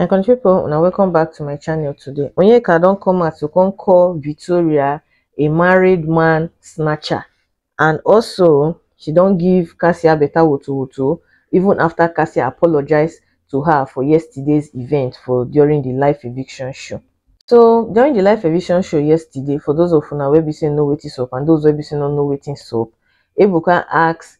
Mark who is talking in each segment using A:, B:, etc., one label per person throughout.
A: my country people una welcome back to my channel today onyeka don come out to come call victoria a married man snatcher and also she don give cassia better woto woto even after cassia apologized to her for yesterday's event for during the live eviction show so during the live eviction show yesterday for those of una wey be say know wetin sup and those wey be say no know wetin sup ebuka ask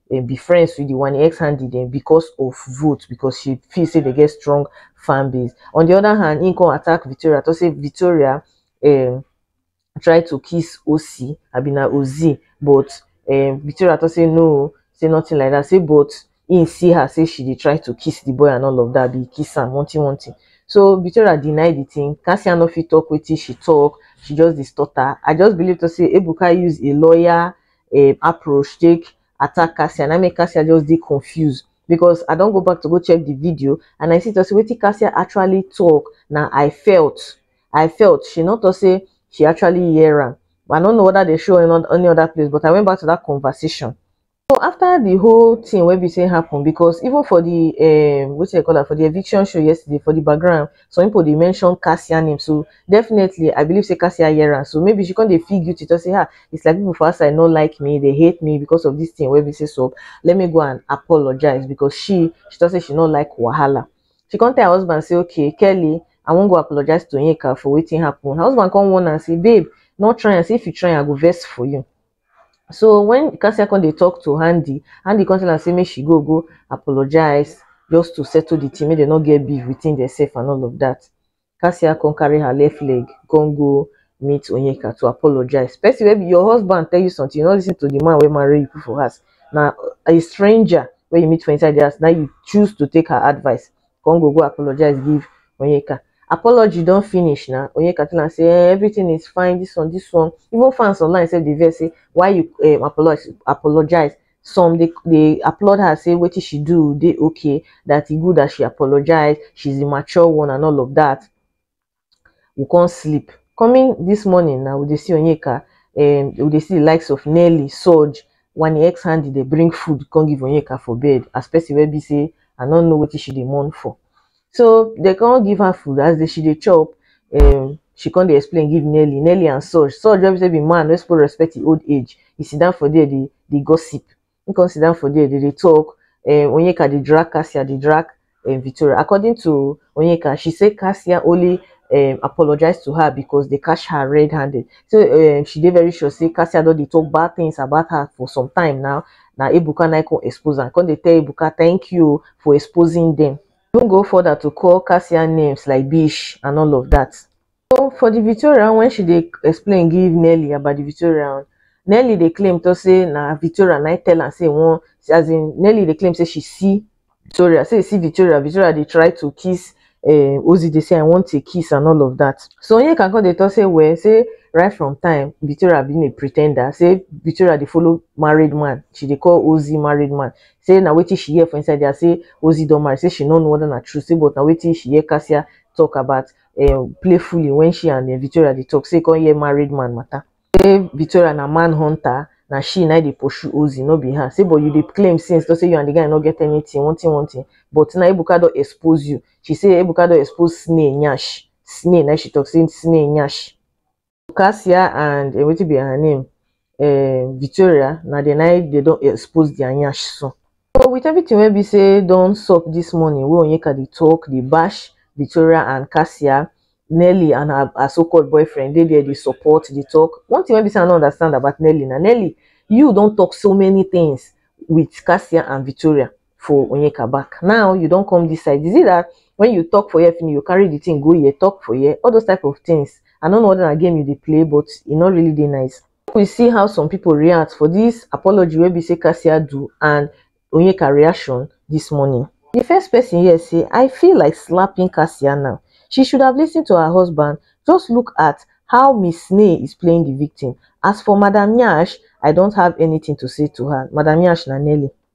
A: um, be friends with the one ex handy them because of vote because she feel say they get strong fan base. On the other hand, he come attack Victoria to say Victoria um, try to kiss OC Abina Ozi, but um, Victoria to say no, say nothing like that. Say but he see her say she dey try to kiss the boy and all of that, be kiss am, wanting wanting. So Victoria deny the thing. Cassia no fit talk wetin she talk. She just dey stutter. I just believe to say Ebuka use a lawyer um approach take attack Cassia na make Cassia just dey confused because I don go back to go check the video and I see to say wetin Cassia actually talk na I felt I felt she not to say she actually hear am but I don't know whether they show any, any other place but I went back to that conversation so after the whole thing wey be say happen because even for the um wetin they call am for the eviction show yesterday for the background some people dey mention cassia name so definitely i believe say cassia hear am so maybe she come dey feel guilty to say ah it's like people for outside no like me they hate me because of this thing wey be say so let me go and apologize because she she talk say she no like wahala she come tell her husband say okay kelly i wan go apologize to yinka for wetin happen her husband come warn am say babe no try am say if you try am i go vex for you So when Cassia come dey talk to Handy, Handy come tell am say make she go go apologize just to settle the thing, make dem no get beef within themselves and all of that. Cassia come carry her left leg, come go meet Onyeka to apologize. Person wey be your husband tell you something, you no listen to the man wey marry you put for house. Na a stranger wey you meet for inside the house, na you choose to take her advice. come go go apologize give Onyeka. Apology don finish na, Onyeka tell am say eh, everything is fine, this one, this one. Even fans online sef dey vex say why you um, apologize, apologize. Some dey, dey applaud her say wetin she do dey okay, that e good that she apologize, she's the mature one and all of that. we come sleep coming this morning now we dey see Onyeka um we dey see the likes of Nelly, Soj, Wani X Handy dey bring food come give Onyeka for bed as person wey be say I no know wetin she dey mourn for so dey come give her food as she dey chop um she come dey explain give Nelly, Nelly and Soj, Soj wey be say be man wey suppose respect him old age e sit down for there dey gossip he come sit down for there dey dey talk um Onyeka dey drag Cassia dey drag um Victoria according to Onyeka she say Cassia only um apologize to her because they catch her red handed so um she dey very sure say Cassia don dey talk bad things about her for some time now na Ebuka na come expose am come dey tell Ebuka thank you for exposing them even go further to call Cassia names like bitch and all of that. So for the Victoria when she dey explain give Nelly about the Victoria, Nelly dey claim to say na Victoria na tell am say one as in Nelly dey claim say she see Victoria, say see Victoria, Victoria dey try to kiss uh, Ozzy dey say I want a kiss and all of that. So Onyeka come dey talk say well say right from time Victoria being a pretender say Victoria dey follow married man she dey call Ozzy married man say na wetin she hear for inside there say Ozzy don marry say she no know whether na true say but na wetin she hear Cassia talk about um playfully when she and um Victoria dey talk say e come hear married man matter. Say Victoria na man hunter, na she na dey pursue Ozzy, no be her. Say but you dey claim since say you and the guy no get anything, one thing one thing, but now Ebuka don expose you. She say Ebuka don expose snail nyash, snail na im she talk say snail nyash. Cassia and uh, wetin be her name uh, Victoria na the night they don expose their nyash so. So with everything wey be say don sup this morning wey Onyeka dey talk dey bash Victoria and Cassia Nelly and her, her so-called boyfriend dey there dey support dey talk. One thing wey be say I no understand about Nelly na Nelly you don talk so many things with Cassia and Victoria for onyeka back now you don come this side is it that when you talk for here finish you carry the thing go here talk for here all those type of things i don't know whether na game you dey play but e no really dey nice Make we see how some people react for this apology wey be say cassia do and onyeka reaction this morning the first person here say i feel like slapping cassia now she should have listened to her husband just look at how miss snay is playing the victim as for madam nyash i don't have anything to say to her madam nyash na nelly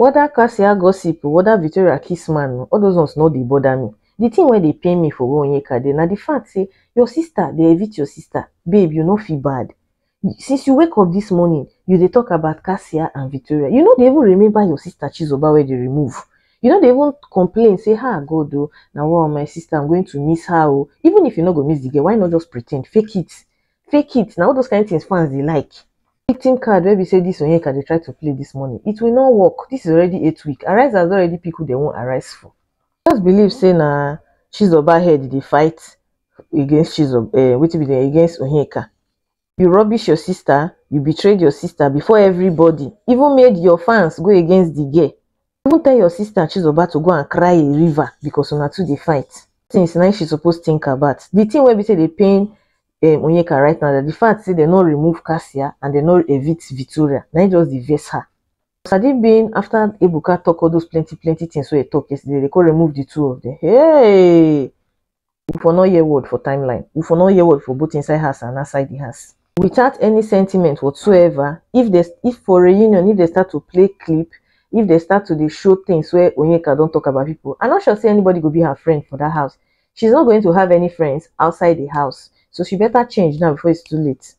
A: Weda Kasia gossip o, weda Victoria kiss man o, all those ones no dey bother me. The thing wey dey pain me for where Onyeka dey na the fact say your sister dey evict your sister. Babe, you no feel bad? Since you wake up this morning, you dey talk about Kasia and Victoria. You no dey even remember your sister Chizoba wey dey remove. You no dey even complain say, Ha God o, na wa o, my sister, I'm going to miss her o. Even if you no go miss the girl, why not just pretend, fake it? fake it now. all those kind of things fans they like victim card where we say this onyeka they try to play this morning it will not work this is already eight week arise has already people they won't arise for just believe say na chizoba head they fight against chizoba uh, eh, wait be there against onyeka you rubbish your sister you betrayed your sister before everybody even made your fans go against the girl even tell your sister chizoba to go and cry a river because una two dey fight things na she suppose think about the thing wey be say dey pain um, onyeka right now that the fact say dem no remove cassia and dem no evict victoria na im just dey vex her sadi bin after ebuka talk all those plenty plenty things wey he talk yesterday they come remove the two of them hey u for nor hear word for timeline, u for nor hear word for both inside house and outside di house. Without any sentiment whatsoever, if dem if for reunion if dem start to play clip, if dem start to dey show things wey Onyeka don talk about pipu, I nor sure sey anybody go be her friend for dat house, she is nor going to have any friends outside di house, so she better change now before it's too late.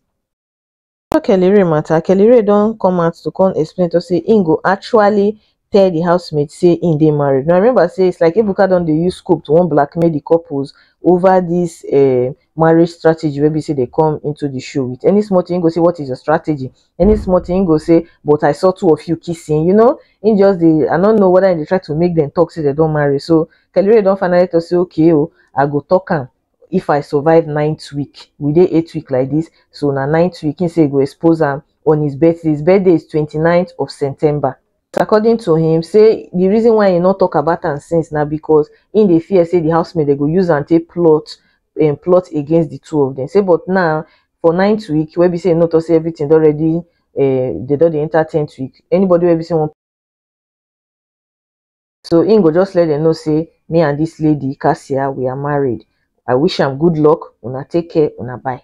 A: After Kellyrae matter, Kellyrae don come out to come explain to say he go actually tell the housemates say he dey married. Now remember say it's like Ebuka don dey use scope to wan blackmail the couples over this uh, marriage strategy wey be say they come into the show with. Any small thing, he go say, what is your strategy? Any small thing, he go say, but I saw two of you kissing. You know, he just dey, I don't know whether they try to make them talk say they don't marry. So Kellyrae don finally to say, okay, oh, I go talk am. if i survive ninth week we dey eight week like this so na ninth week he say go expose am on his birthday his birthday is 29th of september according to him say the reason why he not talk about am since now because in the fear say the housemaid they go use and take plot and um, plot against the two of them say but now for ninth week where we say not to say everything already uh, they don't enter 10th week anybody where we say one so him go just let them know say me and this lady Kasia we are married I wish am good luck una take care una bye.